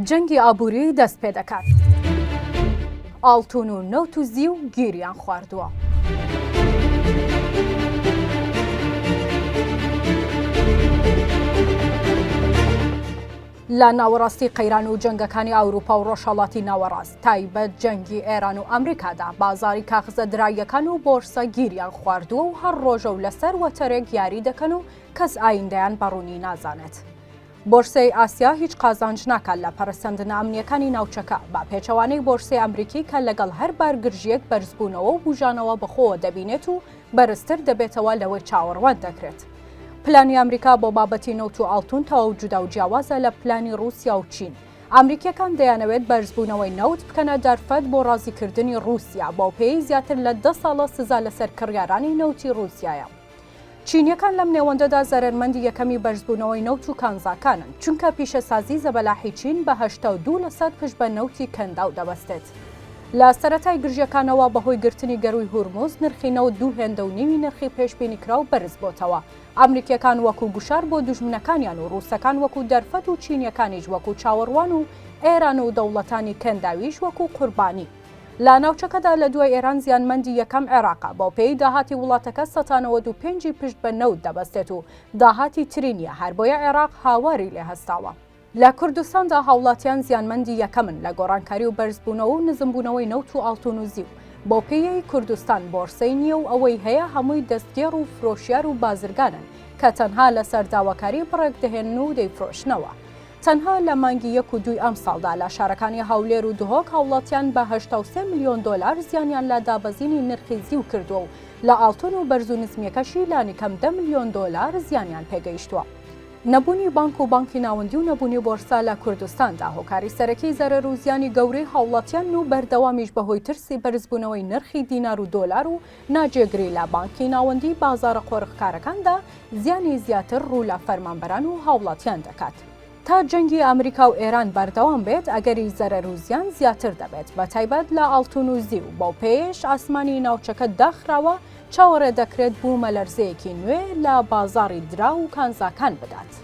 جەنگی ئابووری دەست پێ دەکات ئاڵتون و نەوت و زی و گیریان خواردووە. لە ناوەڕاستی قەیران و جەنگەکانی ئەوروپا و ڕۆژهڵاتی ناوەڕاست تایبەت جەنگی ئێران و ئەمریکادا بازاری کاخزە دراییەکان و بۆرسە گیریان خواردووە و هەر ڕۆژە و لەسەر وەتەرێک یاری دەکەن و کەس ئایندەیان بە ڕوونی نازانێت. بۆرسەی ئاسیا هیچ قازانج ناکات لە پەرەسەندنە ئەمنییەکانی ناوچەکە، بە پێچەوانەی بۆرسەی ئەمریکی کە لەگەڵ هەر بارگرژییەک بەرزبوونەوە و بووژانەوە بەخۆوە دەبینێت و بەرزتر دەبێتەوە لەوەی چاوەڕوان دەکرێت. پلانی ئەمریکا بۆ بابەتی نەوت و ئاڵتوون تەواو جودا و جیاوازە لە پلانی ڕووسیا و چین. ئەمریکییەکان دەیانەوێت بەرزبوونەوەی نەوت بکەنە دەرفەت بۆ ڕازیکردنی ڕووسیا، بەوپێیەی زیاتر لە دە ساڵە سزا لەسەر کڕیارانی نەوتی ڕووسیایە. چینیەکان لەم نێوەندەدا زەرەرمەندی یەکەمی بەرزبوونەوەی نەوت و کانزاکانن، چونکە پیشەسازی زەبەلاحی چین بە هەشتا و دوو لەسەد پشت بە نەوتی کەنداو دەبەستێت. لە سەرەتای گرژیەکانەوە بەهۆی گرتنی گەرووی هورمز نرخی نەوت دوو هێندە و نیوی نرخی پێشبینیکراو بەرزبۆتەوە. ئەمریکیەکان وەکو گوشار بۆ دوژمنەکانیان و رووسەکان وەکو دەرفەت و چینیەکانیش وەکو چاوەڕوان و ئێران و دەوڵەتانی کەنداویش وەکو قوربانی. لە ناوچەکەدا لە دوای ئێران زیانمەندی یەکەم عێراقە، بەوپێیەی داهاتی وڵاتەکە سەتا نەوەد و پێنج ی پشت بە نەوت دەبەستێت و داهاتی تری نییە، هەربۆیە عێراق هاواری لێ هەستاوە. لە کوردستاندا هاوڵاتیان زیانمەندی یەکەمن لە گۆڕانکاری و بەرزبوونەوە و نزمبوونەوەی نەوت و ئاڵتون و زیو، بەوپێیەی کوردستان بۆرسەی نییە و ئەوەی هەیە هەمووی دەستگێڕ و فرۆشیار و بازرگانن کە تەنها لەسەر داواکاری بڕێک دەهێنن و دەیفرۆشنەوە. تەنها لە مانگی یەک و دووی ئەمساڵدا لە شارەکانی هەولێر و دهۆک هاوڵاتیان بە هەشتا و سێ ملیۆن دۆلار زیانیان لە دابەزینی نرخی زیو کردووە و لە ئاڵتون و بەرز و نزمیەکەشی لانیکەم دە ملیۆن دۆلار زیانیان پێگەیشتووە. نەبوونی بانک و بانکی ناوەندی و نەبوونی بۆرسە لە کوردستاندا هۆکاری سەرەکی زەرەر و زیانی گەورەی هاوڵاتیان و بەردەوامیش بەهۆی ترسی بەرزبوونەوەی نرخی دینار و دۆلار و ناجێگری لە بانکی ناوەندی بازاڕە قۆرغکارەکاندا زیانی زیاتر ڕوو لە فەرمانبەران و هاوڵاتیان دەکات. تا جەنگی ئەمریکا و ئێران بەردەوام بێت ئەگەری زەرەر و زیان زیاتر دەبێت بە تایبەت لە ئاڵتون و زیو، بەوپێیەیش ئاسمانی ناوچەکە داخراوە، چاوەڕێ دەکرێت بوومەلەرزەیەکی نوێ لە بازاڕی دراو و کانزاکان بدات.